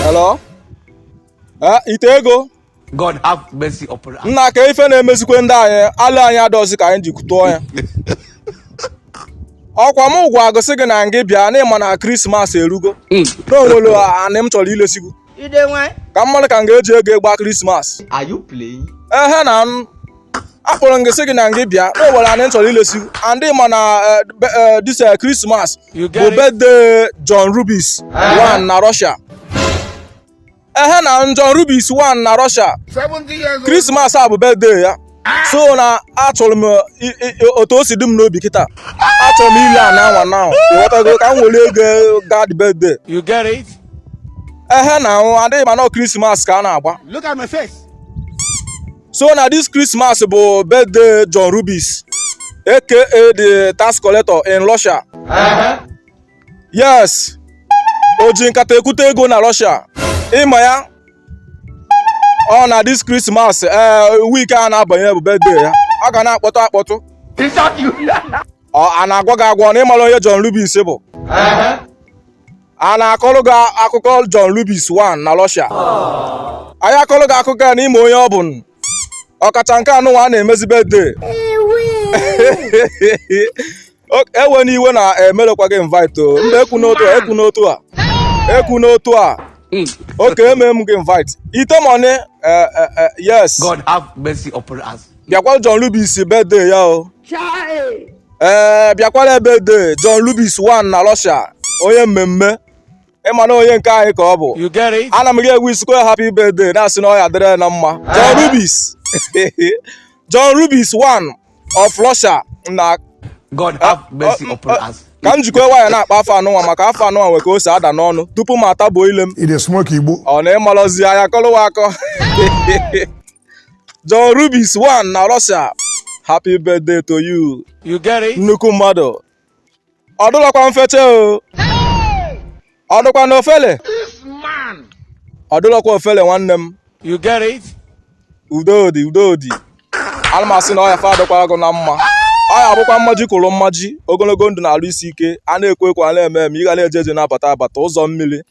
Hello? Eh, ite ego God have mercy upon us. nna ka ife na-emezikwe ndị anyị alụ anyị adọzi ka anyị ji tụọ ya ọkwa m gwa gụ sị gị na ngị bịa na ịma na krismas erugo na onwere anị m chọrọ ilesi gụ Ide nwanyị. ka m marụ ka m ga-eji ego ịgba krismas Are you playing? ehe na m akpọrọ ngị sị gị na ngị bịa o nwere anị m chọrọ ilesi gụ and ịma na this krismas bụ birthday john rubis one na russia ehe na john rubis one na russia krismas a bụ birthday ya so na achọrọ m otu o si dị m n'obi kịta achọrọ m ile ana anwa na ịghọtago ka m were ego gaa the birthday You get it? ehe na anwụ adịghị ma na krismas ka a na-agba Look at my face. so na this Christmas bụ birthday John Rubis aka the tax collector in Russia yes o ji nkata ekwute ego na Russia ịma ya ọ na this Christmas ee week a na-abanye bụ birthday ya ọ ga na-akpọtụ akpọtụ ọ a na-agwa gị agwa na ịmara onye John Rubis bụ a na-akọrọ gị akụkọ John Rubis one na Russia anyị akọrọ gị akụkọ ya na ịma onye ọ bụ ọkacha nke anụnwa a na-emezi birthday ewena iwe na emelọkwa gị invite o mba ekwuna otu a ekwuna otu a ekwuna otu a hmm. okay eme m gị invite ite money eh, eh, eh, yes God have mercy upon us bịakwa John Rubis birthday ya o ee eh, bịakwara birthday John Rubis one na Russia onye mmemme ịma na onye nke anyị ka ọ bụ ana m gị egwu isikwe happy birthday na-asị na ọ ya-adịrị na mma John Rubis John Rubis one of Russia na God have ah, mercy oh, upon oh, us. ka m jikwa wayọ na-akpọ afa anụnwa maka afa anụnwa nwe ka o si ada n'ọnụ tupu m atabuo ile m ọ na ịmalọzi anya kọlụwa akọ John Rubis one na Russia happy birthday to you You get it? nnukwu mmadụ ọ dụlọkwa mfecha o ọ dụkwa na ofele ọ dụlọkwa ofele nwanne m You get it? udodi udodi ana m asị na ọya fa adịkwara gụ na mma ọ ya-abụkwa mmaji kwụrụ mmaji ogologo ndụ na alụ isi ike a na-ekwu ekwu a na-eme eme ị ga na-eje eje na-abata abata ụzọ mmiri